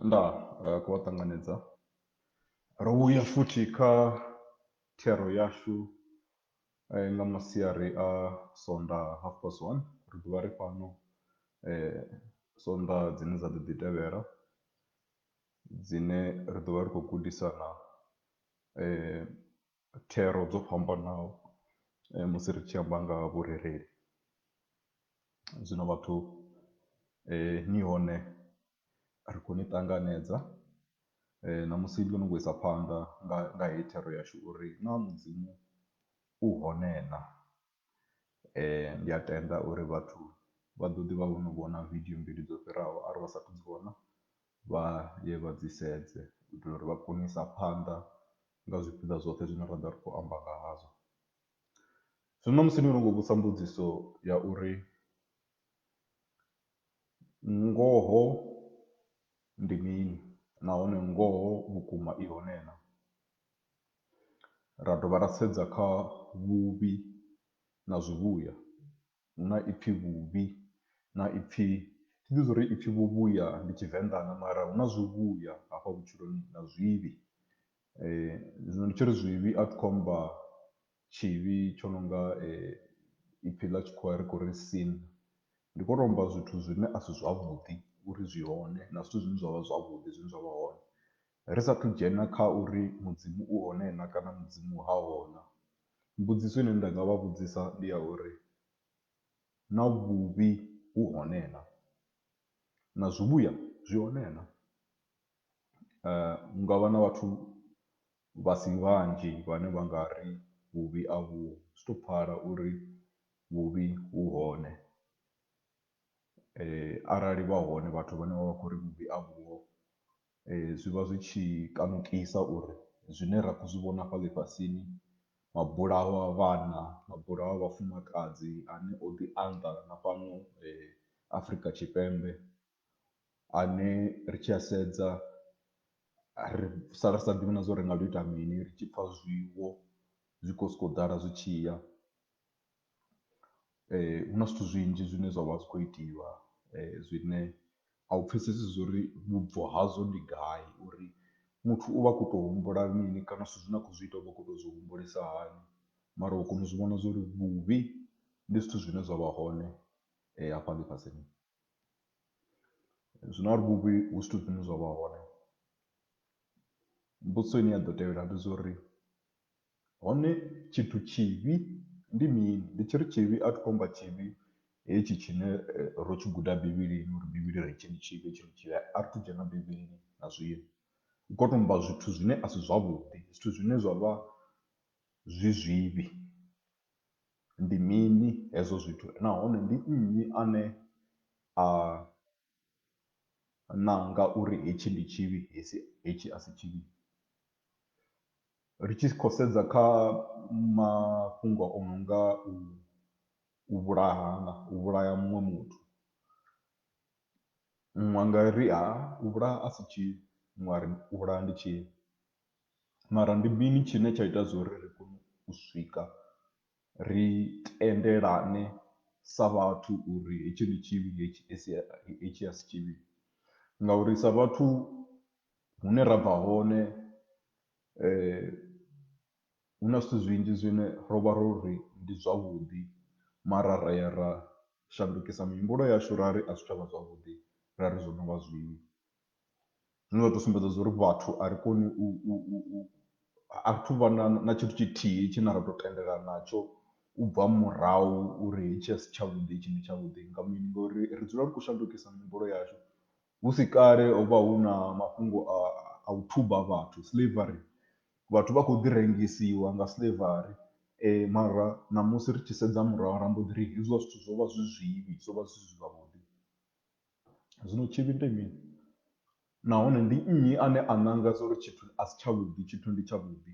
nda eh, ku a ṱanganedza ro vhuya futhi kha thero yashu eh, nga masiari a sonda half past one ri ḓovha ri fhano eh, sonda dzine dza ḓo ḓi tevhela dzine ri ḓo vha ri khou gudisana thero dzo fhambanaho musi ri tshi amba nga ha vhurereli. Zwino vhathu ni hone ri khou ni ṱanganedza na musi ndo no khou isa phanḓa nga nga heyi thero yashu uri naa Mudzimu u hone naa. Ndi a tenda uri vhathu vha ḓo ḓi vha vho no vhona video mbili dzo fhiraho arali vha sathu dzi vhona vha ye vha dzi sedze u itela uri vha kone u isa phanḓa nga zwipiḓa zwoṱhe zwine ra ḓovha ri khou amba nga hazwo. Zwino na musi ni no khou vhudzisa mbudziso ya uri ngoho ndi mini nahone ngoho vhukuma i hone na. ra dovha ra sedza kha vhuvhi na zwivhuya, hu na ipfhi vhuvhi na ipfhi, thi ḓivhi zwa uri ipfhi vhuvhuya ndi Tshivenḓa na, mara hu na zwivhuya hafha vhutshiloni na zwivhi. Zwino ndi tshi ri zwivhi a thi khou amba tshivhi tsho no nga ipfhi ḽa tshikhuwa ri khou ri sin, ndi khou tou amba zwithu zwine a si zwavhuḓi uri zwi hone na zwithu zwine zwa vha zwavhuḓi zwine zwa vha hone. Ri sa athu dzhena kha uri Mudzimu u hone na kana Mudzimu ha ho na, mbudziso ine nda nga vha vhudzisa ndi ya uri, Na vhuvhi vhu hone na? Na zwivhuya zwi hone na? Hu nga vha na vhathu vha si vhanzhi vhane vha nga ri vhuvhi a vhuho, zwi tou pfala uri vhuvhi vhu hone. Arali vha hone vhathu vhane vha vha khou ri vhuvhi a vhuho, Zwi vha zwi tshi kanukisa uri zwine ra khou zwi vhona hafha ḽifhasini, mabulayo a vhana, mabulayo a vhafumakadzi ane o ḓi anda na fhano Afrika Tshipembe ane ri tshi a sedza ri sala ri sa ḓivhi na zwa uri ri nga tou ita mini ri tshi pfha zwiwo zwi khou sokou ḓala zwi tshi ya. Hu na zwithu zwinzhi zwine zwa vha zwi khou itiwa zwine a u pfhesesi zwo ri vhubvo hazwo ndi gai uri muthu u vha a khou tou humbula mini kana zwithu zwine a khou zwi ita u vha a khou tou zwi humbulisa hani mara u kona u zwi vhona zwo ri vhuvhi ndi zwithu zwine zwa vha hone hafha ḽifhasini. Zwino arali vhuvhi hu zwithu zwine zwa vha hone mbudziso ine ya ḓo tevhela ndi zwa uri. Hone tshithu tshivhi ndi mini? Ndi tshi ri tshivhi a thi khou amba tshivhi hetshi tshine ro tshi guda Bivhilini uri Bivhili i ri hetshi ndi tshivhi, hetshi ndi tshivhi. A ri thu dzhena Bivhilini na zwino. Hu khou tou amba zwithu zwine a si zwavhuḓi, zwithu zwine zwa vha zwi zwivhi. Ndi mini hezwo zwithu nahone ndi nnyi ane a nanga uri hetshi ndi tshivhi, hetshi a si tshivhi? ri tshi khou sedza kha mafhungo o no nga u u vhulahana, u vhulaya muṅwe muthu. Vha nga ri ha u vhulaha a si tshivhi, vhaṅwe vha ri u vhulaha ndi tshivhi mara ndi mini tshine tsha ita zwo ri ri kone u swika ri tendelane sa vhathu uri hetshi ndi tshivhi, hetshi a si tshivhi ngauri sa vhathu. Hune ra bva hone hu na zwithu zwinzhi zwine ro vha ro ri ndi zwavhuḓi mara ra ya ra shandukisa mihumbulo yashu ra ri a zwi tsha vha zwavhuḓi ra ri zwo no vha zwivhi. Zwine zwa tou sumbedza zwa uri vhathu a ri koni u u u u a ri thu vha na na tshithu tshithihi tshine ra tou tendelana natsho u bva murahu uri hetshi a si tshavhuḓi hetshi ndi tshavhuḓi nga mini ngori ri dzula ri khou shandukisa mihumbulo yashu Hu si kale ho vha hu na mafhungo a u thuba vhathu, slavery. Vhathu vha khou ḓi rengisiwa nga slavery mara ṋamusi ri tshi sedza murahu ra mbo ḓi ri hezwiḽa zwithu zwo vha zwi zwivhi, zwo vha zwi si zwavhuḓi. Zwino tshivhi ndi mini nahone ndi nnyi ane a ṋanga zwo ri tshithu a si tshavhuḓi, tshithu ndi tshavhuḓi?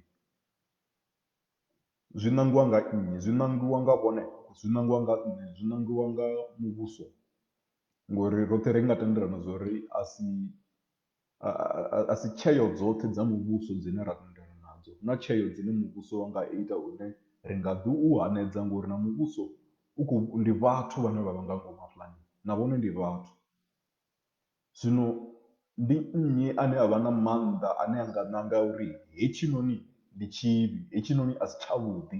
Zwi ṋangiwa nga nnyi? Zwi ṋangiwa nga vhone? Zwi ṋangiwa nga nṋe? Zwi ṋangiwa nga muvhuso? ngori roṱhe ri nga tendelana zwa uri a si a si tsheo dzoṱhe dza muvhuso dzine ra tendelana nadzo, hu na tsheo dzine muvhuso wa nga ita hune ri nga ḓi u hanedza ngori na muvhuso u khou, ndi vhathu vhane vha vha nga ngomu hafhaḽani na vhone ndi vhathu. Zwino ndi nnyi ane a vha na maanḓa ane a nga nanga uri hetshinoni ndi tshivhi, hetshinoni a si tshavhuḓi,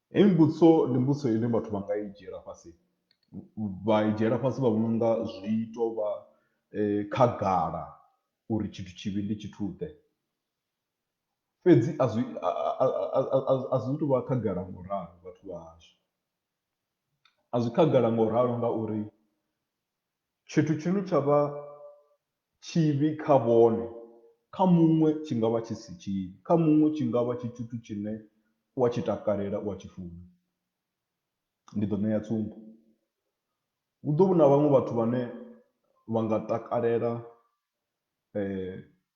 Heyi mbudziso ndi mbudziso ine vhathu vha nga i dzhiela fhasi vha i dzhiela fhasi vha vhona unga zwi to vha khagala uri tshithu tshivhi ndi tshithu ḓe, fhedzi a zwi a zwi tu vha khagala ngo ralo vhathu vha hashu, a zwi khagala ngo ralo ngauri. Tshithu tshine tsha vha tshivhi kha vhone, kha muṅwe tshi nga vha tshi si tshivhi. Kha muṅwe tshi nga vha tshi tshithu tshine u a tshi takalela, u a tshi funa. Ndi ḓo ṋea tsumbo, hu ḓo vha hu na vhaṅwe vhathu vhane vha nga takalela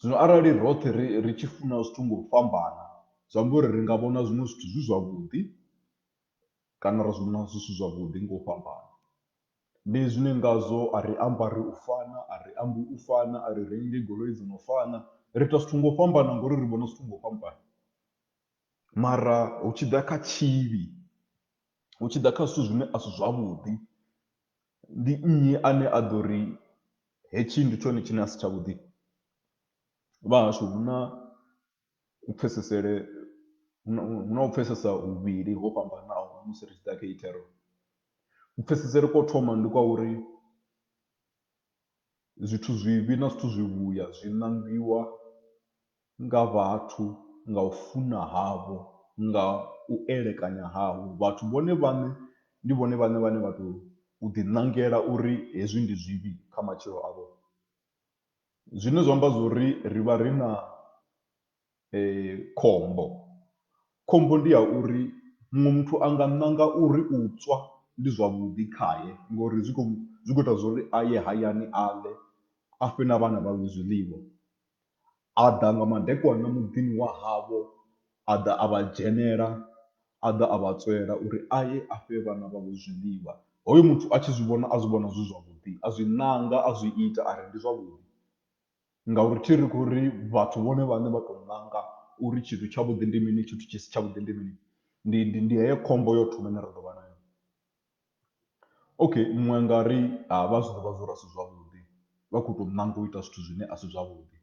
Zwino arali roṱhe ri ri tshi funa zwithu nga u fhambana, zwi amba uri ri nga vhona zwiṅwe zwithu zwi zwavhuḓi kana ra zwi vhona zwi si zwavhuḓi nga u fhambana. Ndi zwine ngazwo a ri ambari u fana, a ri ambi u fana, a ri rengi goloi dzo no fana, ri ita zwithu nga u fhambana ngori ri vhona zwithu nga u fhambana. Mara hu tshi ḓa kha tshivhi, hu tshi ḓa kha zwithu zwine a si zwavhuḓi. Ndi nnyi ane a ḓo ri hetshi ndi tshone tshine a si tshavhuḓi? Vha hashu hu na ku pfhesesele, hu na hu na u pfhesesa huvhili ho fhambanaho musi ri tshi ḓa kha heyi thero. Ku pfhesesele kwa u thoma ndi kwa uri zwithu zwivhi na zwithu zwivhuya zwi ṋangiwa nga vhathu, nga u funa havho, nga u elekanya havho. Vhathu vhone vhaṋe ndi vhone vhaṋe vhane vha tou ḓiṋangela uri hezwi ndi zwivhi kha matshilo avho. Zwine zwa amba zwo ri ri vha ri na khombo, khombo ndi ya uri muṅwe muthu a nga ṋanga uri u tswa ndi zwavhuḓi khae ngori zwi khou zwi khou ita zwo ri a ye hayani a ḽe, a fhe na vhana vhawe zwiḽiwa. A ḓa nga madekwana muḓini wa havho, a ḓa a vha dzhenela, a ḓa a vha tswela uri a ye a fhe vhana vhavho zwiḽiwa. Hoyo muthu a tshi zwi vhona a zwi vhona zwi zwavhuḓi, a zwi ṋanga, a zwi ita a ri ndi zwavhuḓi ngauri thi ri khou ri vhathu vhone vhaṋe vha tou ṋanga uri tshithu tshavhuḓi ndi mini, tshithu tshi si tshavhuḓi ndi mini. Ndi ndi ndi heyo khombo ya u thoma ine ra ḓo vha nayo. Okay muṅwe a nga ri a vha zwi ḓivha zwori a si zwavhuḓi vha kho to ṋanga u ita zwithu zwine a si zwavhuḓi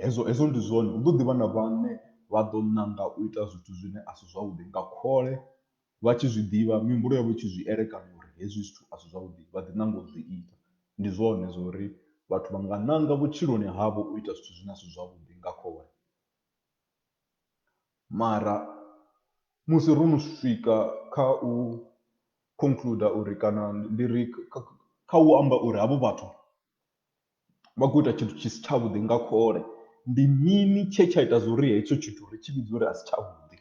hezwo hezwo ndi zwone hu ḓo ḓi vha na vhaṅwe vha ḓo ṋanga u ita zwithu zwine a si zwavhuḓi nga khole vha tshi zwi ḓivha mihumbulo yavho i tshi zwi elekanya uri hezwi zwithu a si zwavhuḓi vha ḓi nanga u zwi ita. Ndi zwone zwa uri vhathu vha nga ṋanga vhutshiloni havho u ita zwithu zwine a si zwavhuḓi nga khole. Mara musi ro no swika kha u concluder uri kana ndi ri kha u amba uri havho vhathu vha khou ita tshithu tshi si tshavhuḓi nga khole, ndi mini tshe tsha ita zwo ri hetsho tshithu ri tshi vhidza uri a si tshavhuḓi.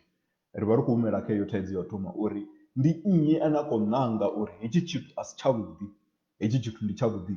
Ri vha ri khou humela kha heyo thaidzo ya u thoma uri ndi nnyi ane a khou ṋanga uri hetshi tshithu a si tshavhuḓi, hetshi tshithu ndi tshavhuḓi.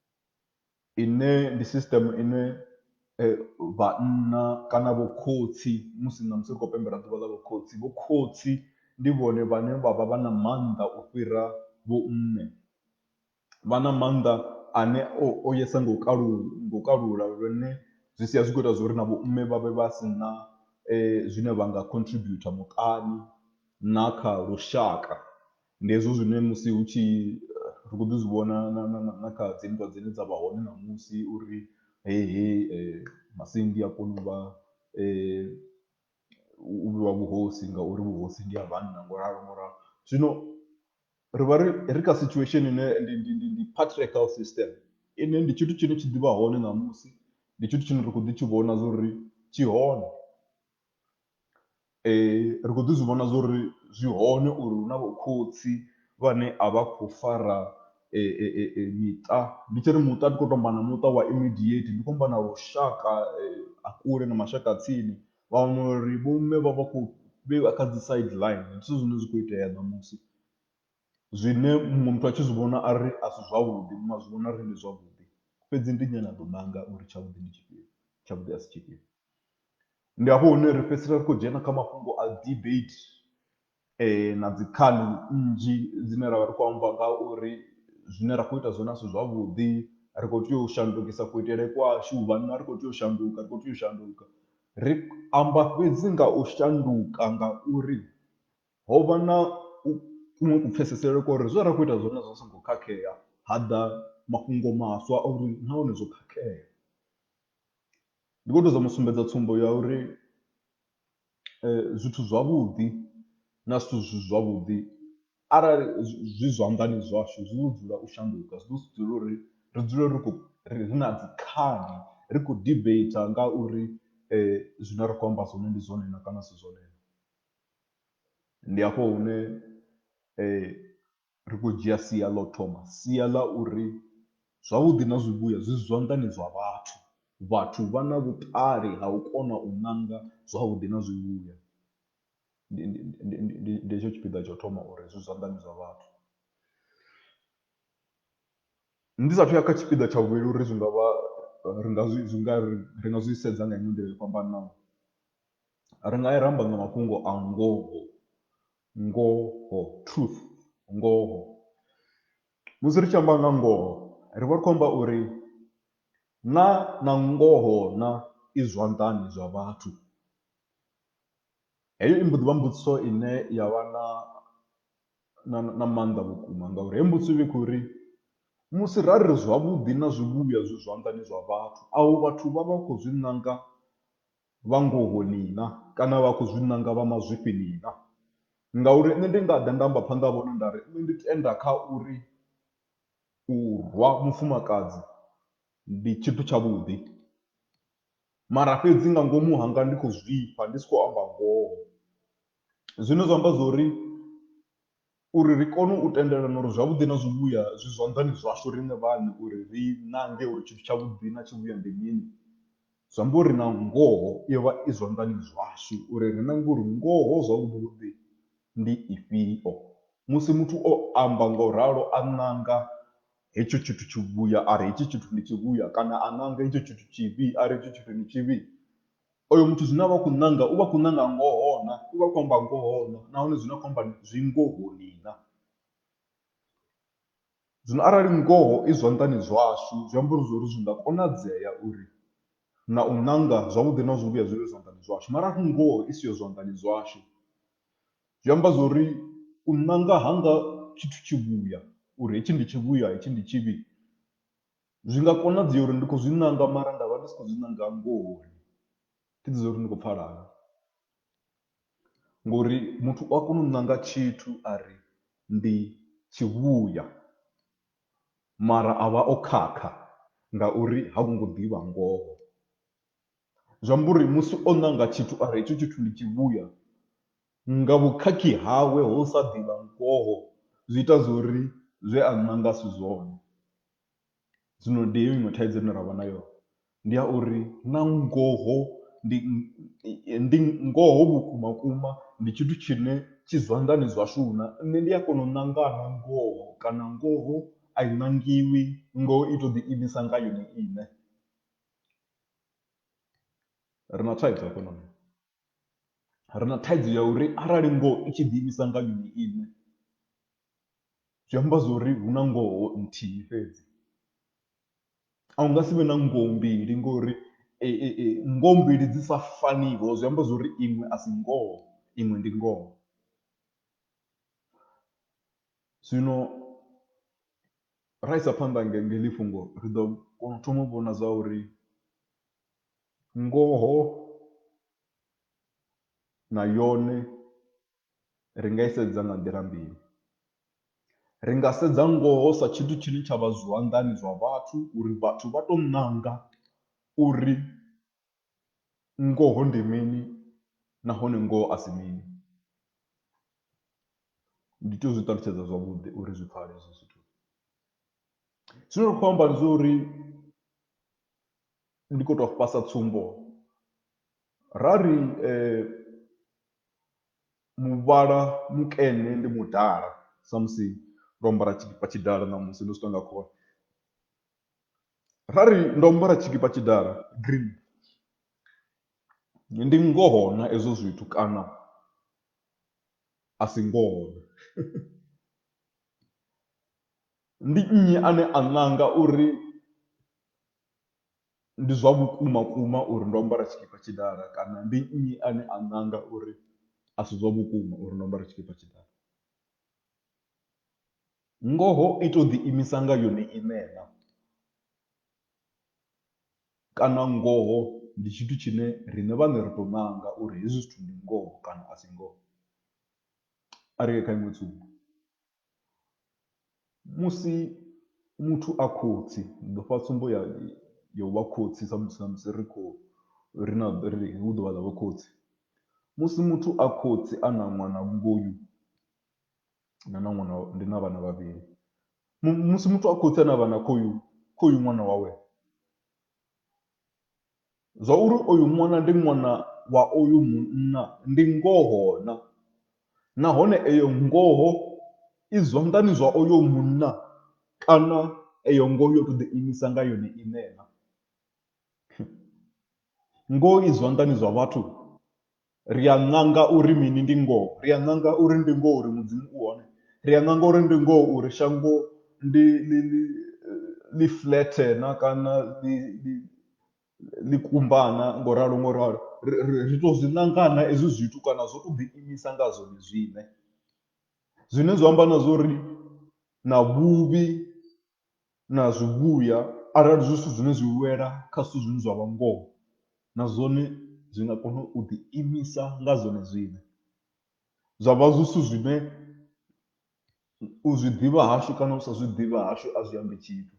ine ndi system ine vhanna kana vho khotsi musi na musi ri khou pembela ḓuvha ḽa vho khotsi vho khotsi ndi vhone vhane vha vha vha na mannḓa u fhira vho mme vha na mannḓa ane o yesa nga u kalula nga u kalula lune zwi sia zwi kho ita zwori na vho mme vha vhe vha si na zwine vha nga contribute muṱani na kha lushaka Ndi hezwo zwine musi hu tshi ri khou ḓi zwi vhona na na na na kha dzi nndwa dzine dza vha hone ṋamusi uri heyi heyi masindi a kona u vha u vhiwa vhuhosi ngauri vhuhosi ndi ha vhanna ngo ralo ngo ralo. Zwino ri vha ri ri kha situation ine ndi ndi ndi ndi patriarchal system ine ndi tshithu tshine tshi ḓivha hone ṋamusi, ndi tshithu tshine ra khou ḓi tshi vhona zwo ri tshi hone. Ri khou ḓi zwi vhona zwori zwi hone uri hu na vho khotsi vhane a vha khou fara miṱa ndi tshi ri muṱa ndi khou tou amba na muṱa wa immediate ndi khou amba na lushaka a kule na mashaka a tsini vha wana uri vho mme vha vha khou vheiwa kha dzi side ḽine ndi zwithu zwine zwa kho itea ṋamusi. Zwine muṅwe muthu a tshi zwi vhona a ri a si zwavhuḓi muṅwe a zwi vhona uri ndi zwavhuḓi fhedzi ndi nnyi ane a ḓo nanga uri tshavhuḓi ndi tshifhio tshavhuḓi a si tshifhio. Ndi hafho hune ri fhedzisela ri khou dzhena kha mafhungo a debate na dzi khali nnzhi dzine ra vha ri khou amba nga uri zwine ra khou ita zwone a si zwavhuḓi, ri khou tea u shandukisa kuitele kwashu, vhanna ri khou tea u shanduka, ri khou tea u shanduka. Ri amba fhedzi nga u shanduka ngauri ho vha na u kuṅwe kupfhesesele kwa uri zwe ra khou ita zwone zwo vha zwi songo khakhea, ha ḓa mafhungo maswa a uri nahone zwo khakhea. Ndi khou ṱoḓa u mu sumbedza tsumbo ya uri zwithu zwavhuḓi na zwithu zwi si zwavhuḓi arali zwi zwanḓani zwashu zwi ḓo dzulela u shanduka, zwi ḓo si dzule uri ri dzule ri khou ri na dzi khali ri khou debate nga uri zwine ra khou amba zwone ndi zwone na kana a si zwone na. Ndi hafho hune Ri khou dzhia sia ḽa u thoma, sia ḽa uri zwavhuḓi na zwivhuya zwi zwanḓani zwa vhathu. Vhathu vha na vhuṱali ha u kona u ṋanga zwavhuḓi na zwivhuya. Ndi, ndi, ndi, ndi, ndi, ndi hetsho tshipiḓa tsha u thoma uri zwi zwanḓani zwa vhathu. Ndi sa athu ya kha tshipiḓa tsha vhuvhili uri zwi nga vha, ri nga zwi, zwi nga ri, ri nga zwi sedza nga iṅwe nḓila yo fhambananaho. Ri nga ya ra amba nga mafhungo a ngoho. ngoho, truth, ngoho. Musi ri tshi amba nga ngoho ri vha ri khou amba uri na na ngoho na i zwanḓani zwa vhathu. Heyo i mbo ḓi vha mbudziso ine ya vha na na na maanḓa vhukuma ngauri heyo mbudziso i vha i khou ri musi ra ri zwavhuḓi na zwivhuya zwi zwanḓani zwa vhathu avho vhathu vha vha khou zwi nanga vha ngoho nina kana vha khou zwi nanga vha mazwifhi nina. Ngauri nṋe ndi nga ḓa nda amba phanḓa ha vhone nda ri, Nṋe ndi tenda kha uri u rwa mufumakadzi ndi tshithu tshavhuḓi, mara fhedzi nga ngomu hanga ndi khou zwifha ndi si khou amba ngoho. Zwine zwa amba zwo ri Uri ri kone u tendelana uri zwavhuḓi na zwivhuya zwi zwanḓani zwashu riṋe vhaṋe uri ri nange uri tshithu tshavhuḓi na tshivhuya ndi mini, zwi amba uri na ngoho yo vha i zwanḓani zwashu uri ri nange uri ngoho zwavhuḓi-vhuḓi ndi ifhio. Musi muthu o amba nga u ralo a nanga hetsho tshithu tshivhuya a ri hetshi tshithu ndi tshivhuya kana a nanga hetsho tshithu tshivhi a ri hetshi tshithu ndi tshivhi, Oyo muthu zwine a vha a khou nanga u vha a khou nanga ngoho na, u vha a khou amba ngoho na nahone zwine a khou amba zwi ngohoni na. Zwino arali ngoho i zwanḓani zwashu zwi amba uri zwori zwi nga konadzea uri na u nanga zwavhuḓi na zwivhuya zwi vhe zwanḓani zwashu mara arali ngoho i siho zwanḓani zwashu zwi amba zwori u nanga hanga tshithu tshivhuya uri hetshi ndi tshivhuya hetshi ndi tshivhi. Zwi nga konadzea uri ndi khou zwi nanga mara nda vha ndi si khou zwi nanga ngohoni, thi ḓivhi zwa uri ndi khou pfhala hani ngori muthu u a kona u nanga tshithu a ri ndi tshivhuya mara a vha o khakha ngauri ha vho ngo ḓivha ngoho. Zwi amba uri musi o nanga tshithu a ri hetshi tshithu ndi tshivhuya nga vhukhakhi hawe ho u sa ḓivha ngoho zwi ita zwo ri zwe a nanga a si zwone. Zwino ndi heyo iṅwe thaidzo ine ra vha nayo ndi ya uri na ngoho ndi ndi ngoho vhukuma vhukuma ndi tshithu tshine tshi zwanḓani zwashu na, nṋe ndi a kona u ṋanga na ngoho kana ngoho a i ṋangiwi ngoho i to ḓi imisa nga yone iṋe ri na thaidzo hafhanoni. Ri na thaidzo ya uri arali ngoho i tshi ḓi imisa nga yone iṋe, zwi amba zwa uri hu na ngoho nthihi fhedzi. A hu nga si vhe na ngoho mbili ngori ngoho mbili dzi sa faniho zwi amba zwa uri iṅwe a si ngoho, iṅwe ndi ngoho. Zwino ra isa phanḓa nga heḽi fhungo ri ḓo kona u thoma u vhona zwa uri. Ngoho na yone ri nga i sedza nga nḓila mbili, ri nga sedza ngoho sa tshithu tshine tsha vha zwanḓani zwa vhathu uri vhathu vha tou ṋanga uri ngoho ndi mini nahone ngoho a si mini. Ndi tea u zwi ṱalutshedza zwavhuḓi uri zwi pfhale hezwo zwithu, zwine ra khou amba ndi zwa uri. ndi khou tou vhasa tsumbo ra ri muvhala mukene ndi mudala samusi ro ambara tshikipa tshidala ṋamusi ndo zwi tou nga khole ra ri ndo ambara tshikipa tshidala green ndi ngoho na hezwo zwithu kana a si ngoho na ndi nnyi ane a ṋanga uri ndi zwa vhukuma kuma uri ndo ambara tshikipa tshidala kana ndi nnyi ane a nanga uri a si zwa vhukuma uri ndo ambara tshikipa tshidala. Ngoho i tou ḓi imisa nga yone iṋe na, kana ngoho ndi tshithu tshine riṋe vhaṋe ri tou nanga uri hezwi zwithu ndi ngoho kana a si ngoho, a ri ye kha iṅwe tsumbo. Musi muthu a khotsi ndi ḓo fha tsumbo ya ya u vha khotsi sa musi samusi ri khou ri na ri hu ḓuvha ḽa vho khotsi. Musi muthu a khotsi a na ṅwana vhungoyu na na ṅwana ndi na vhana vhavhili musi muthu a khotsi a na vhana khoyu khoyu ṅwana wawe. zwa uri oyu ṅwana ndi ṅwana wa oyu munna ndi ngoho-na? Nahone eyo ngoho i zwanḓani zwa oyo munna kana eyo ngoho yo tou ḓiimisa nga yone iṋe-na? Ngoho i zwanḓani zwa vhathu? Ri a ṋanga uri mini? Ndi ngoho. Ri a ṋanga uri ndi ngoho uri Mudzimu u hone. Ri a ṋanga uri ndi ngoho uri shango ndi ḽi ḽi ḽi flethe na kana ḽi ḽi ḽi kumba na ngo ralo ngo ralo. Ri ri ri tou zwi ṋanga na hezwi zwithu kana zwo tou ḓiimisa nga zwone zwine. Zwine zwa amba na zwa uri na vhuvhi na zwivhuya arali zwi zwithu zwine zwi wela kha zwithu zwine zwa vha ngoho na zwone zwi nga kona u ḓi imisa nga zwone zwine. Zwa vha zwi zwithu zwine u zwi ḓivha hashu kana u sa zwi ḓivha hashu a zwi ambi tshithu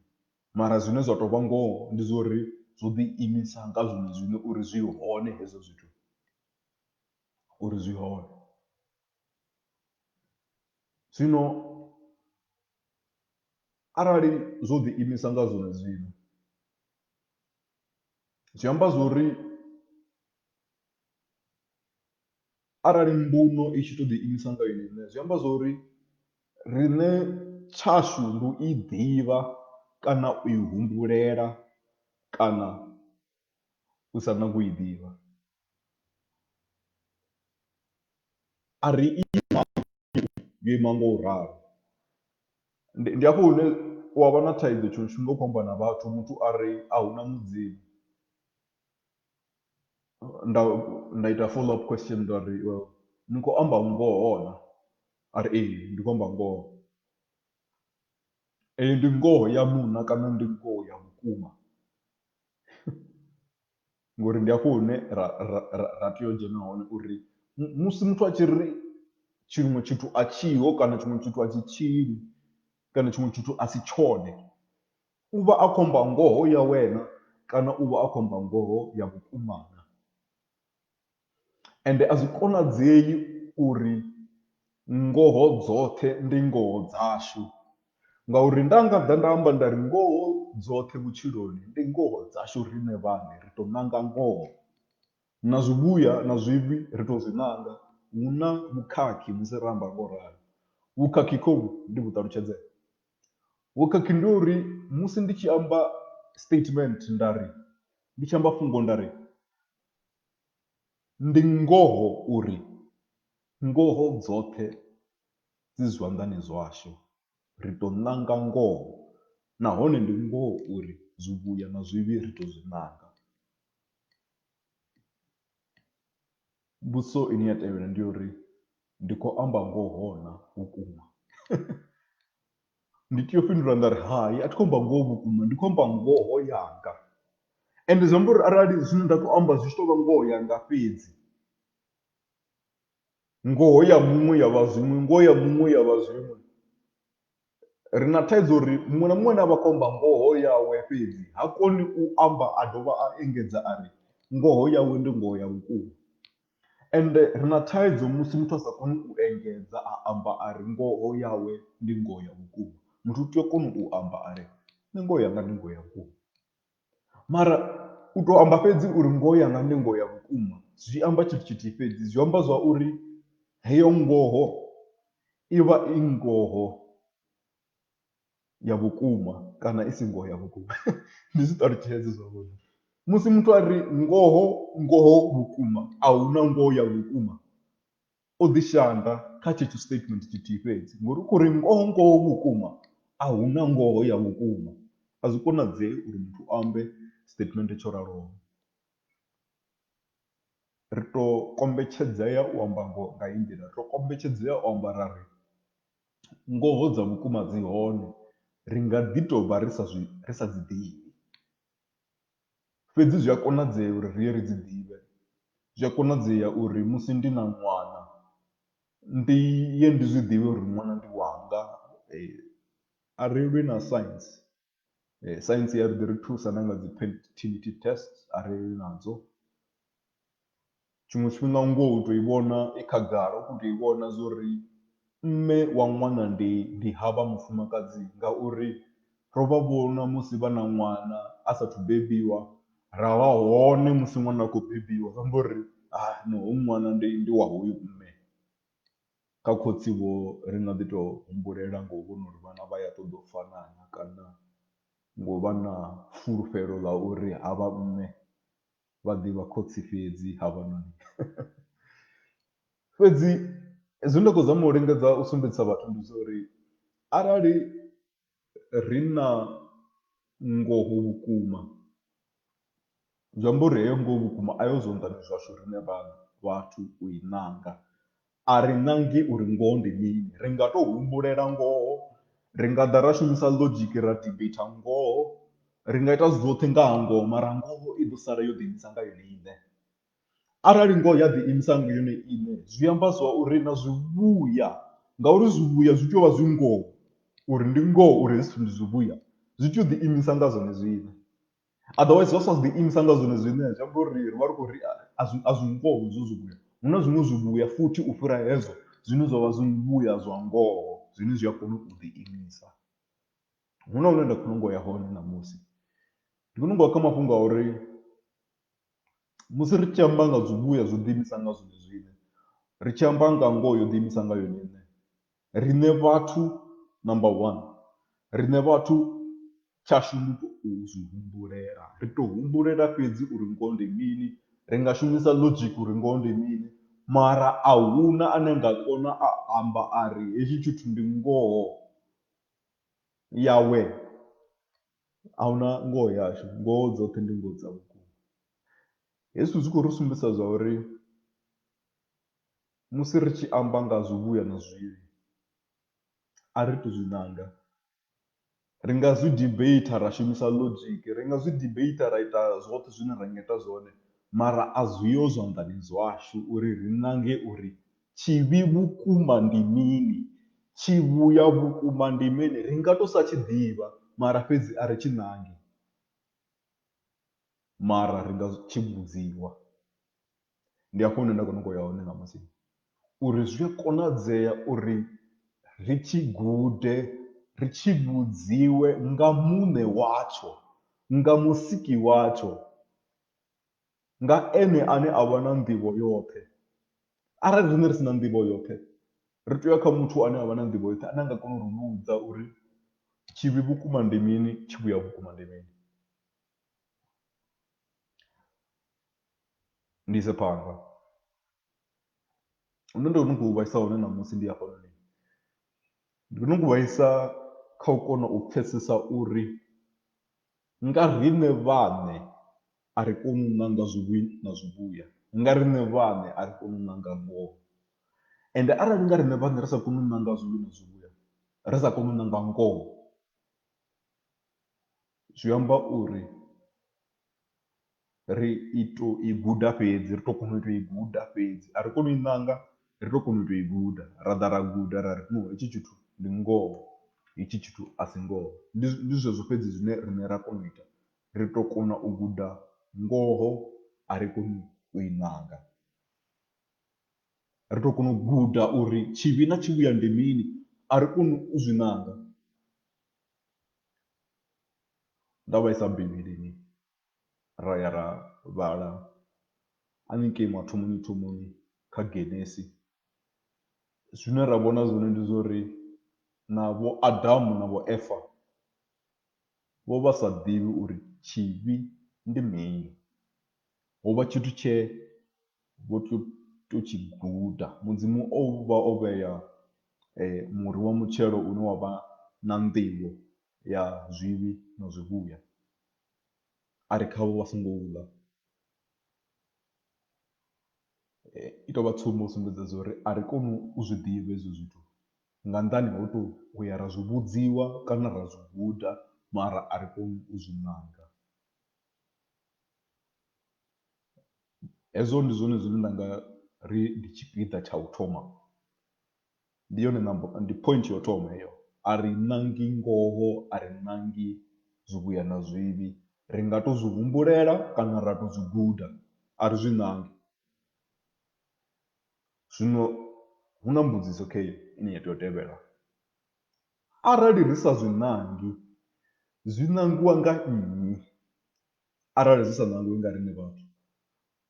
mara zwine zwa tou vha ngoho ndi zwa uri zwo ḓi imisa nga zwone zwine uri zwi hone hezwo zwithu uri zwi hone. Zwino. Arali zwo ḓi imisa nga zwone zwine, zwi amba zwo ri arali mbuno i tshi to ḓi imisa nga yone iṋe, zwi amba zwo ri riṋe tshashu ndi u i ḓivha kana u i humbulela kana. u sa nagi u i ḓivha. A ri ima yo ima nga u ralo. Ndi ndi hafho hune u a vha na thaidzo tshiṅwe tshifhinga u khou amba na vhathu muthu a ri a hu na mudzimu. Nda nda ita follow up question nda ri ni khou amba ngoho naa? A ri ee ndi khou amba ngoho. Eyi ndi ngoho ya muṋa kana ndi ngoho ya vhukuma? ngori ndi hafho hune ra ra ra ra tea u dzhena hone uri musi muthu a tshi ri tshiṅwe tshithu a tshiho kana tshiṅwe tshithu a tshi tshili kana tshiṅwe tshithu a si tshone u vha a khou amba ngoho ya wena kana u vha a khou amba ngoho ya vhukuma na. Ende a zwi konadzei uri ngoho dzoṱhe ndi ngoho dzashu, ngauri nda nga ḓa nda amba nda ri ngoho dzoṱhe vhutshiloni ndi ngoho dzashu riṋe vhaṋe, ri tou ṋanga ngoho. Na zwivhuya na zwivhi ri tou zwi ṋanga, hu na vhukhakhi musi ra amba nga u ralo. Vhukhakhi khohu ndi vhu ṱalutshedze? Vhukhakhi ndi ha uri musi ndi tshi amba statement nda ri, ndi tshi amba fhungo nda ri, Ndi ngoho uri ngoho dzoṱhe dzi zwanḓani zwashu. Ri tou ṋanga ngoho nahone ndi ngoho uri zwivhuya na zwivhi ri tou zwi ṋanga. Mbudziso ine ya tevhela ndi ya uri ndi khou amba ngoho naa vhukuma. ndi tea u fhindula nda ri hai a thi khou amba ngoho vhukuma ndi khou amba ngoho yanga ende zwi amba uri arali zwine nda khou amba zwi tshi tou vha ngoho yanga fhedzi ngoho ya muṅwe ya vha zwiṅwe ngoho ya muṅwe ya vha zwiṅwe ri na thaidzo uri muṅwe na muṅwe ane a vha khou amba ngoho yawe fhedzi ha koni u amba a dovha a engedza a ri ngoho yawe ndi ngoho ya vhukuma. Ende ri na thaidzo musi muthu a sa koni u engedza a amba a ri ngoho yawe ndi ngoho ya vhukuma. Muthu u tea u kona u amba a ri nṋe ngoho yanga ndi ngoho ya vhukuma. Mara u tou amba fhedzi uri ngoho yanga ndi ngoho ya vhukuma zwi amba tshithu tshithihi fhedzi, zwi amba zwa uri heyo ngoho i vha i ngoho. ya vhukuma kana i si ngoho ya vhukuma ndi zwi ṱalutshedze zwavhuḓi musi muthu a ri ngoho ngoho vhukuma a hu na ngoho ya vhukuma o ḓi shanda kha tshetsho statement tshithihi fhedzi ngori u khou ri ngoho ngoho vhukuma a hu na ngoho ya vhukuma a zwi konadzei uri muthu a ambe statement tsho raloho. Ri tou kombetshedzea u amba ngoho nga heyi nḓila, ri tou kombetshedzea u amba ra ri ngoho dza vhukuma dzi hone, ri nga ḓi tou vha ri sa zwi ri sa dzi ḓivhi. Fhedzi zwi a konadzea uri ri ye ri dzi ḓivhe. Zwi a konadzea uri musi ndi na ṅwana ndi ye ndi zwi ḓivhe uri ṅwana ndi wanga a re lwe na science. Saintsi i a ḓi ri thusa na nga dzi fertility test arali ri nadzo, tshiṅwe tshifhinga ngoho u tou i vhona i khagala u khou tou i vhona zwo ri mme wa ṅwana ndi ndi havha mufumakadzi ngauri ro vha vhona musi vha na ṅwana a sathu bebiwa ra vha hone musi ṅwana a khou bebiwa zwi amba uri ha no hoyu ṅwana ndi ndi wa hoyu mme. Kha khotsi vho ri nga ḓi to humbulela ngo u vhona uri vhana vha ya ṱoḓa u fana na kana ngo vha na fulufhelo ḽa uri ha vha mme vha ḓivha khotsi fhedzi ha vha na ṋne. Fhedzi zwe nda khou zama u lingedza u sumbedzisa vhathu ndi zwa uri arali ri na ngoho vhukuma zwi amba uri heyo ngoho vhukuma a yo zwanḓani zwashu riṋe vhaṋe vhathu u i ṋanga, a ri ṋangi uri ngoho ndi mini ri nga tou humbulela ngoho, ri nga ḓa ra shumisa logic ra debate ngoho, ri nga ita zwoṱhe nga ha ngoho mara ngoho i ḓo sala yo ḓiimisa nga yone iṋe. Arali ngoho ya ḓiimisa nga yone iṋe zwi amba zwa uri na zwivhuya ngauri zwivhuya zwi tea u vha zwi ngoho uri ndi ngoho uri hezwi zwithu ndi zwivhuya zwi tea u ḓiimisa nga zwone zwine. Otherwise zwa sa ḓiimisa nga zwone zwine zwi amba uri ri vha ri khou ri a zwi a zwi ngoho hezwo zwivhuya, hu na zwiṅwe zwivhuya futhi u fhira hezwo zwine zwa vha zwivhuya zwa ngoho zwine zwi a kona u ḓiimisa. Hu na hune nda khou nyanga u ya hone ṋamusi, ndi khou nyanga u ya kha mafhungo a uri. Musi ri tshi amba nga zwivhuya zwo ḓiimisa nga zwone zwine, ri tshi amba nga ngoho yo ḓiimisa nga yone iṋe, riṋe vhathu number one, riṋe vhathu tshashu ndi u tou zwi humbulela, ri tou humbulela fhedzi uri ngoho ndi mini, ri nga shumisa logic uri ngoho ndi mini mara a hu na ane a nga kona a amba a ri hetshi tshithu ndi ngoho yawe A hu na ngoho yashu, ngoho dzoṱhe ndi ngoho dza vhukuma. Hezwi zwi khou ri sumbedzisa zwa uri musi ri tshi amba nga zwivhuya na zwivhi a ri tou zwi ṋanga, ri nga zwi debater ra shumisa logic, ri nga zwi debater ra ita zwoṱhe zwine ra nga ita zwone mara a zwi ho zwanḓani zwashu uri ri ṋange uri Tshivhi vhukuma ndi mini? Tshivhuya vhukuma ndi mini? Ri nga tou sa tshi ḓivha, mara fhedzi a ri tshi ṋangi. Mara ri nga tshi vhudziwa. Ndi hafho hune nda khou nyanga u ya hone ṋamusi uri zwi a konadzea uri ri tshi gude, ri tshi vhudziwe nga Muṋe watsho, nga Musiki watsho. nga Ene ane a vha na nḓivho yoṱhe. Arali riṋe ri si na nḓivho yoṱhe, ri tea u ya kha muthu ane a vha na nḓivho yoṱhe ane a nga kona u ri vhudza uri tshivhi vhukuma ndi mini, tshivhuya vhukuma ndi mini. Ndi ise phanḓa, hune nda khou vhaisa hone ṋamusi ndi hafhanoni, ndi khou nyanga u vhaisa kha u kona u pfhesesa uri Nga riṋe vhaṋe a ri koni u ṋanga zwivhi na zwivhuya, nga riṋe vhaṋe a ri koni u ṋanga ngoho. Ende arali nga riṋe vhaṋe ri sa koni u ṋanga zwivhi na zwivhuya, ri sa koni u ṋanga ngoho, zwi amba uri ri i to i guda fhedzi ri to kona u tou i guda fhedzi a ri koni u i ṋanga ri to kona u tou i guda ra ḓa ra guda ra ri no hetshi tshithu ndi ngoho hetshi tshithu a si ngoho. Ndi ndi zwezwo fhedzi zwine riṋe ra kona u ita ri to kona u guda ngoho a ri koni u i ṋanga. Ri to kona u guda uri tshivhi na tshivhuya ndi mini a ri koni u zwi ṋanga nda vhaisa bivhilini. ra ya ra vhala hanengei mathomoni thomoni kha Genesis, zwine ra vhona zwone ndi zwa uri na vho Adamu na vho Eva vho vha sa ḓivhi uri tshivhi ndi mini. Ho vha tshithu tshe vho tou tou tshi guda, Mudzimu o vha o vhea muri wa mutshelo une wa vha na nḓivho ya zwivhi na zwivhuya. a ri khavho vha songo u ḽa. I tou vha tsumbo u sumbedza zwa uri a ri koni u zwi ḓivha hezwi zwithu nga nnḓani ha u tou ya ra zwi vhudziwa kana ra zwi guda mara a ri koni u zwi nanga. Hezwo ndi zwone zwine nda nga ri ndi tshipiḓa tsha u thoma ndi yone number ndi point ya u thoma heyo a ri ṋangi ngoho a ri ṋangi zwivhuya na zwivhi ri nga to zwi humbulela kana ra to zwi guda a ri zwi ṋangi. Zwino hu na mbudziso kha heyi ine ya tea u tevhela arali ri sa zwi ṋangi zwi ṋangiwa nga nnyi arali zwi sa ṋangiwi nga riṋe vhathu.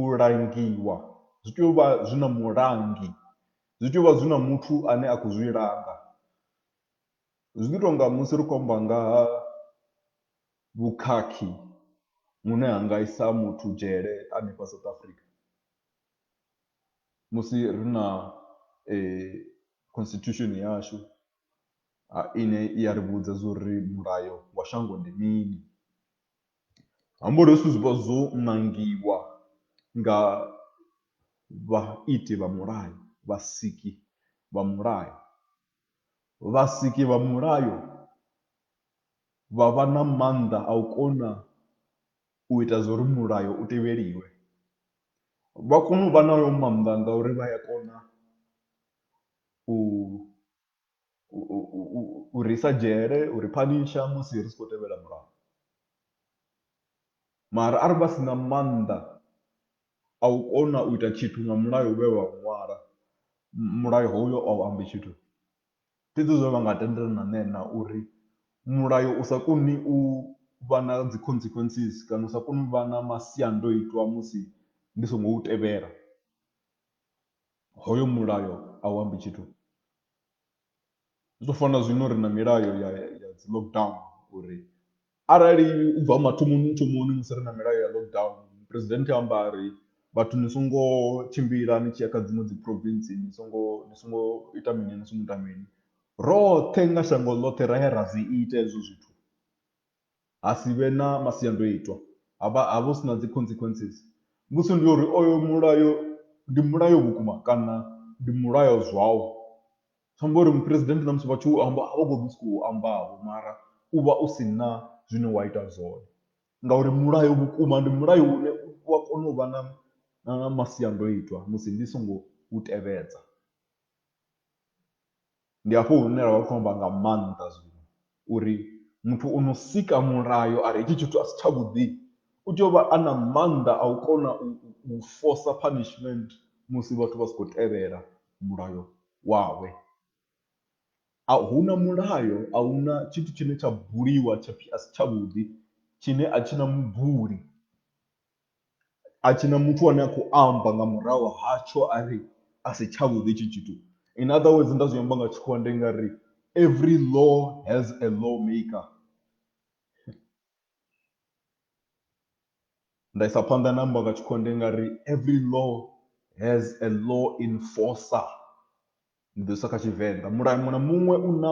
u langiwa zwi tea u vha zwi na mulangi, zwi tea u vha zwi na muthu ane a khou zwi langa. Zwi ḓi tonga musi ri khou amba nga ha vhukhakhi vhune ha nga isa muthu dzhele hanefha South Africa, musi ri na constitution yashu ine i ya ri vhudza zwa uri mulayo wa shango ndi mini. Hambori hezwi zwithu zwi vha zwo ṋangiwa nga vhaiti vha mulayo, vhasiki vha mulayo. Vhasiki vha mulayo vha vha na maanḓa a u kona u ita zwo ri mulayo u tevheliwe. Vha kona u vha na hayo maanḓa ngauri vha ya kona u u, u, u, u, u ri isa dzhele u ri phanisha musi ri si khou tevhela mulayo mara arali vha si na maanḓa a u kona u ita tshithu nga mulayo we wa ṅwala mulayo hoyo a u ambi tshithu fhedzi zwe vha nga tendelana na na uri mulayo u sa koni u vha na dzi consequences kana u sa koni u vha na masiandoitwa musi ndi songo u tevhela Hoyo mulayo a u ambi tshithu, zwi tou fana na zwino ri na milayo ya ya dzi lockdown uri arali u bva mathomoni thomoni musi ri na milayo ya lockdown president a amba a ri vhathu ni songo tshimbila ni tshi ya kha dziṅwe dzi province ni songo ni songo ita mini ni songo ita mini, roṱhe nga shango ḽoṱhe ra ya ra zwi ita hezwo zwithu. ha si vhe na masiandoitwa, ha vha hu si na dzi consequences. Mbudziso ndi ya uri oyo mulayo ndi mulayo vhukuma kana ndi mulayo zwawo. Zwi amba uri muphuresidennde na musi vha tshi u amba a vha khou ḓi sokou amba vho mara u vha u si na zwine wa ita zwone ngauri mulayo vhukuma ndi mulayo une u a kona u vha na na masiandoitwa musi ndi songo u tevhedza. Ndi hafho hune ra vha ri khou amba nga maanḓa zwino uri muthu o no sika mulayo a ri hetshi tshithu a si tshavhuḓi u tea u vha a na maanḓa a u kona u force punishment musi vhathu vha si khou tevhela mulayo wawe. A hu na mulayo a hu na tshithu tshine tsha buliwa tsha pfhi a si tshavhuḓi tshine a tshi na mubuli a tshina muthu ane a khou amba nga murahu hatsho a ri a si tsha vhuḓi hetshi tshithu in other words nda zwi amba nga tshikhuwa ndi nga ri every law has a law maker nda isa phanḓa na amba nga tshikhuwa ndi nga ri every law has a law enforcer. Ndi ḓo isa kha Tshivenḓa. Mulayo muṅwe na muṅwe u na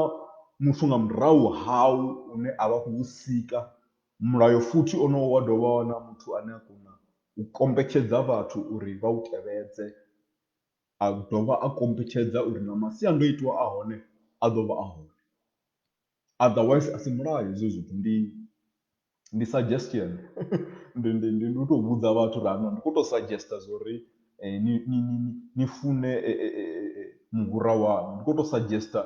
muthu nga murahu hau une a vha a khou u sika. Mulayo futhi onowo wa dovha wa na muthu ane a kona u kombetshedza vhathu uri vha u tevhedze, a dovha a kombetshedza uri na masiandoitwa a hone a ḓo vha a hone. Otherwise asi mulayo hezwo zwithu ndi ndi suggestion ndi ndi ndi ndi u tou vhudza vhathu uri hana ndi khou tou suggester zwo ri ni ni ni ni fune muhura waṋu. Ndi khou tou suggester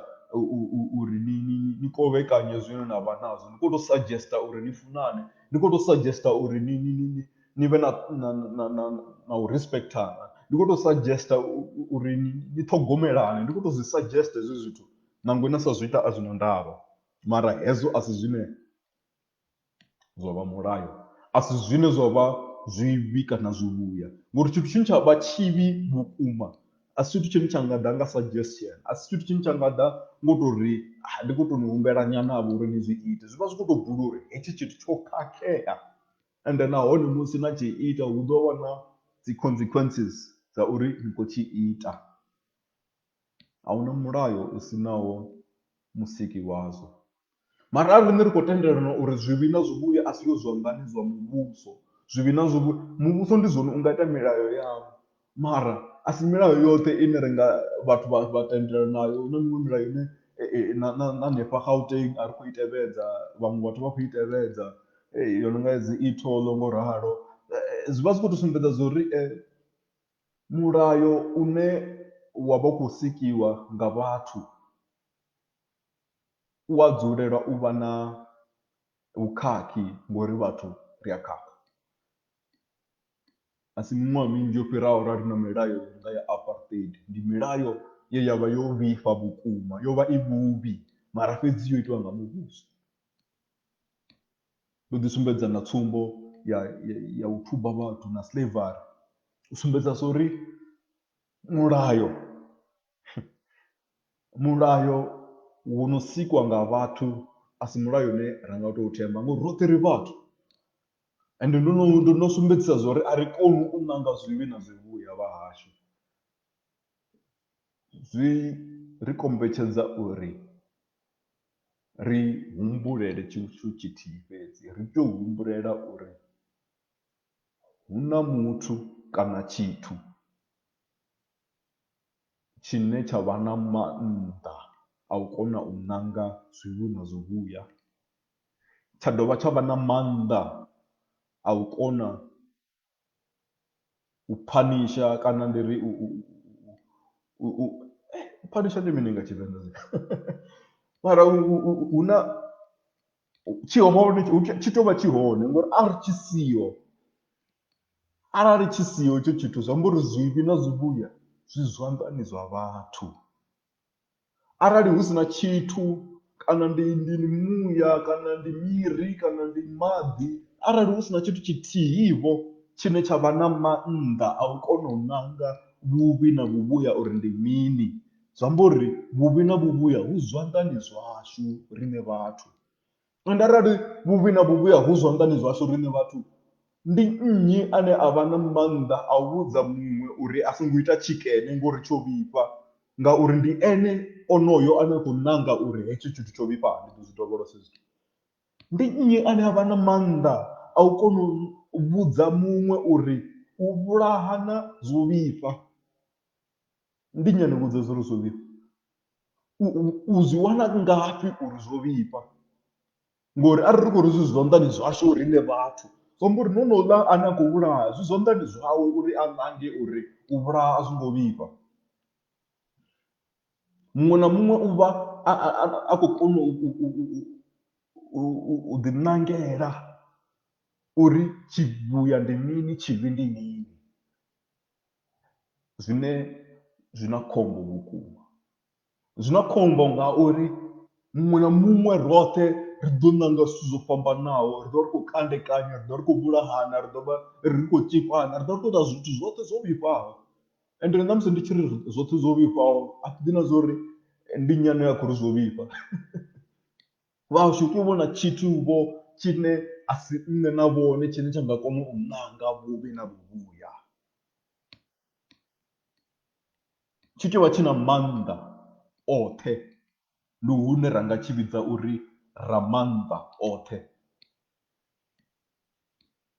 uri ni ni ni kovhekanye zwine na vha nazwo, ndi khou tou suggester uri ni funane, ndi khou tou suggester uri ni ni ni ni ni vhe na na na na na u respectana, ndi khou tou suggester uri ni ṱhogomelane, ndi khou tou zwi suggester hezwo zwithu Nangwe na sa zwi ita a zwi na ndavha, mara hezwo a si zwine zwa vha mulayo, a si zwine zwa vha zwivhi kana zwivhuya. Ngori tshithu tshine tsha vha tshivhi vhukuma a si tshithu tshine tsha nga ḓa nga suggestion, a si tshithu tshine tsha nga ḓa ngo tou ri ndi khou tou ni humbela nyanavho uri ni zwi ite. Zwi vha zwi khou tou bula uri hetshi tshithu tsho khakhea ende nahone musi na tshi ita hu ḓo vha na dzi consequences dza uri ni khou tshi ita. A huna mulayo u sinaho musiki wazwo. Mara arali riṋe ri khou tendelana uri zwivhi na zwivhuya a zwiho zwanḓani zwa muvhuso, zwivhi na zwivhuya, muvhuso ndi zwone u nga ita milayo yawo mara a si milayo yoṱhe ine ri nga vhathu vha vha tendelana nayo. Hu na miṅwe milayo ine na na na hanefha Gauteng a ri khou i tevhedza, vhaṅwe vhathu vha khou i tevhedza yo no nga ya dzi e-toll ngo ralo. Zwi vha zwi khou tou sumbedza zwo ri . Mulayo une wa vha u khou sikiwa nga vhathu u a dzulela u vha na vhukhakhi ngori vhathu ri a khakha. A si miṅwaha minzhi yo fhiraho ra ri na milayo i nga ya apartheid ndi milayo ye ya vha yo vhifha vhukuma yo vha i vhuvhi mara fhedzi yo itiwa nga muvhuso. Ndo ḓi sumbedza na tsumbo ya, ya, ya u thuba vhathu na slavery u sumbedza so uri mulayo mulayo wo no sikwa nga vhathu a si mulayo une ra nga tou themba ngori roṱhe ri vhathu ende ndo no ndo no sumbedzisa zwa uri a ri koni u ṋanga zwivhi na zwivhuya vha hashu zwi ri kombetshedza uri ri humbulele tshithu tshithihi fhedzi, ri tea u humbulela uri hu na muthu kana tshithu tshine tsha vha na maanḓa a u kona u ṋanga zwivhi na zwivhuya, tsha dovha tsha vha na maanḓa a u kona u phanisha kana ndi ri u u u u u phanisha ndi mini nga Tshivenḓa mara hu na tshi hone tshi tou vha tshi hone ngori a ri tshi siho arali tshi siho itsho tshithu zwi amba uri zwivhi na zwivhuya zwi zwanḓani zwa vhathu arali hu si na tshithu kana ndi ndi ndi muya kana ndi miri kana ndi maḓi arali hu si na tshithu tshithihi vho tshine tsha vha na mannḓa a u kona u ṋanga vhuvhi na vhuvhuya uri ndi mini, zwi amba uri vhuvhi na vhuvhuya vhu zwanḓani zwashu riṋe vhathu. Ende arali vhuvhi na vhuvhi ha hu zwanḓani zwashu riṋe vhathu, ndi nnyi ane a vha na maanḓa a u vhudza muṅwe uri a songo ita tshikene ngori tsho vhifha? Ngauri ndi ene onoyo ane a khou nanga uri hetsho tshithu tsho vhifha ndi ḓo zwi dovholosa hezwo zwithu. Ndi nnyi ane a vha na maanḓa a u kona u vhudza muṅwe uri u vhulahana zwo vhifha? Ndi ngani u vhudza zwo ri zwo vhifha? U u zwi wana ngafhi uri zwo vhifha ngori arali ri khou ri zwi zwanḓani zwashu riṋe vhathu zwi amba uri na honouḽa ane a khou vhulaha zwi zwanḓani zwawe uri a nange uri u vhulaha a zwo ngo vhifha. Muṅwe na muṅwe u vha a a khou kona u u ḓiṋangela uri tshivhuya ndi mini tshivhi ndi mini. zwine zwi na khombo vhukuma zwi na khombo ngauri muṅwe na muṅwe roṱhe ri ḓo ṋanga zwithu zwo fhambanaho ri ḓo ri khou kandekanya ri ḓo ri khou vhulahana ri ḓo vha ri khou tshikwama ri ḓo ri khou ita zwithu zwoṱhe zwo vhifhaho ende na musi ndi tshi ri zwoṱhe zwo vhifhaho a thi ḓivhi na zwa uri ndi nnyi ane a khou ri zwo vhifha Vhashu tou vhona tshithu-vho tshine a si nṋe na vhone tshine tsha nga kona u nanga vhuvhi na vhuvhuya. Tshi tou vha tshi na maanḓa oṱhe, ndi hune ra nga tshi vhidza uri Ramaanḓa oṱhe.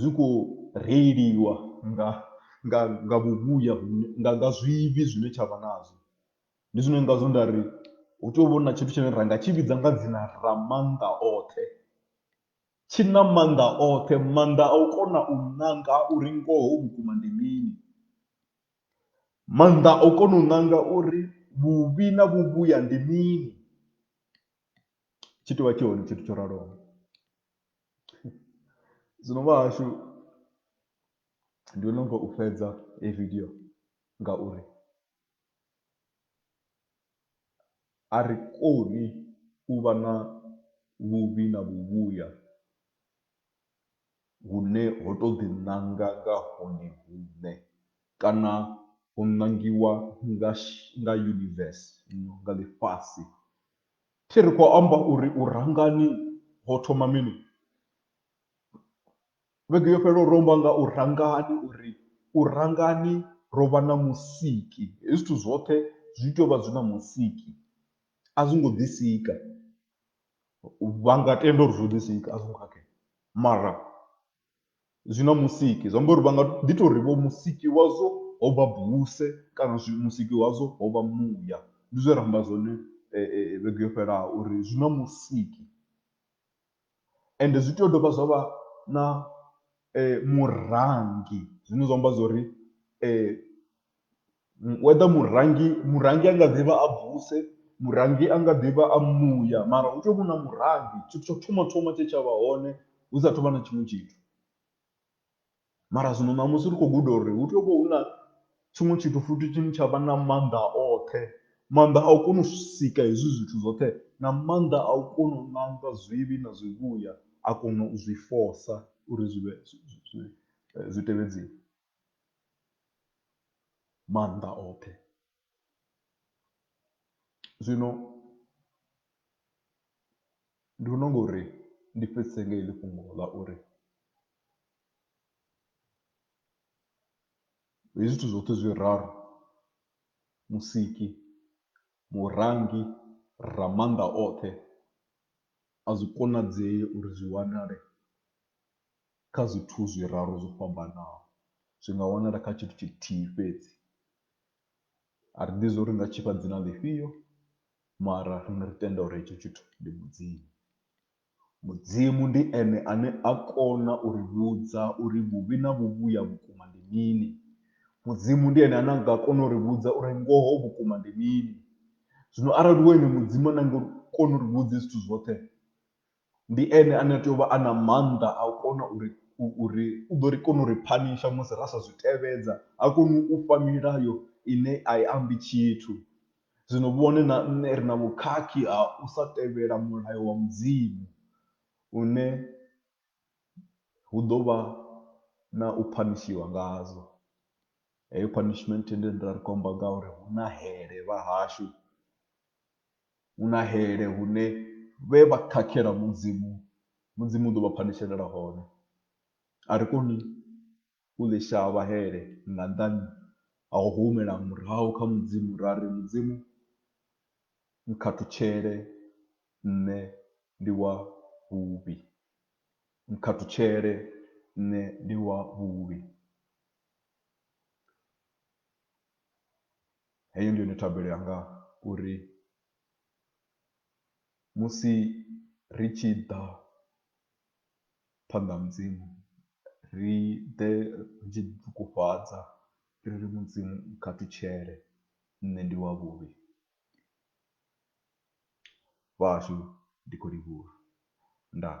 zwi khou reiliwa nga nga nga vhuvhuya vhune nga nga zwivhi zwine tsha vha nazwo. Ndi zwine ngazwo nda ri hu tea u vha hu na tshithu tshine ra nga tshi vhidza nga dzina ra maanḓa oṱhe, tshi na maanḓa oṱhe maanḓa a u kona u nanga uri ngoho vhukuma ndi mini, maanḓa a u kona u nanga uri vhuvhi na vhuvhuya ndi mini, tshi tea u vha tshi hone tshithu tsho raloho. zwino vha hashu ndi no nga u fhedza heyi vidio ngauri a ri koni u vha na vhuvhi na vhuvhuya hune ho to ḓi ṋanga nga hone huṋe kana ho nangiwa nga nga universe nga ḽifhasi. Thi ri khou amba uri u rangani ho thoma mini. Vhege yo fhelelaho ro amba nga u rangani uri u rangani ro vha na musiki. Hezwi zwithu zwoṱhe zwi tea u vha zwi na musiki a zwi ngo ḓi sika vha nga tenda uri zwo ḓi sika a zwo ngo khakhea mara zwi na musiki zwi amba uri vha nga ḓi tou ri vho musiki wazwo ho vha buse kana musiki wazwo ho vha muya. Ndi zwe ra amba zwone vhege yo fhelaho uri zwi na musiki ende zwi tea u dovha zwa vha na murangi zwine zwa amba zwo ri whether murengi murengi a nga ḓi vha a buse, murengi a nga ḓi vha a muya mara hu tea u vha hu na murengi tshithu tsha u thoma thoma tshe tsha vha hone hu sa tou vha na tshiṅwe tshithu. Mara zwino ṋamusi ri khou guda uri hu tea u vha hu na tshiṅwe tshithu futhi tshine tsha vha na maanḓa oṱhe, maanḓa a u kona u sika hezwi zwithu zwoṱhe na maanḓa a u kona u ṋanga zwivhi na zwivhuya a kona u zwi fosa uri zwi vhe zwi tevhedziwe. maanḓa oṱhe zwino ndi vhona unga uri ndi fhedzise nga heḽi fhungo ḽa uri hezwi zwithu zwoṱhe zwiraru musiki, murangi, ramaanḓa oṱhe a zwi konadzei uri zwi wanale kha zwithu zwiraru zwo fhambanaho. Zwi nga wanala kha tshithu tshithihi fhedzi. A ri ḓivhi zwo ri ri nga tshi fha dzina ḽifhio mara riṋe ri tenda uri hetsho tshithu ndi Mudzimu. Mudzimu ndi ene ane a kona u ri vhudza uri vhuvhi na vhuvhuya vhukuma ndi mini. Mudzimu ndi ene ane a nga kona u ri vhudza uri ngoho vhukuma ndi mini. Zwino arali hu ene Mudzimu ane a nga kona u ri vhudza hezwi zwithu zwoṱhe. Ndi ene ane a tea u vha a na maanḓa a u kona uri uri u ḓo ri kona u ri phanisha musi ra sa zwi tevhedza, ha koni u fha milayo ine a i ambi tshithu. Zwino vhone na nṋe ri na vhukhakhi ha u sa tevhela mulayo wa Mudzimu une hu ḓo vha na u phanishiwa ngazwo. Heyo punishment ndi ri khou amba nga ha uri hu na hele vha hashu. hu na hele hune vhe vha khakhela Mudzimu, Mudzimu u ḓo vha phanishelela hone. A ri koni u ḽi shavha hele nga nṱhani ha u humela murahu kha Mudzimu ra ri, Mudzimu nkhathutshele nṋe ndi wa vhuvhi, nkhathutshele nṋe ndi wa vhuvhi. Heyo ndi yone thabelo yanga uri musi ri tshi ḓa phanḓa ha mudzimu ri ḓe ri tshi ḓi ṱungufhadza ri ri mudzimu kha ṱutshele nṋe ndi wa vhuvhi vhahashu ndi khou livhuwa ndaa.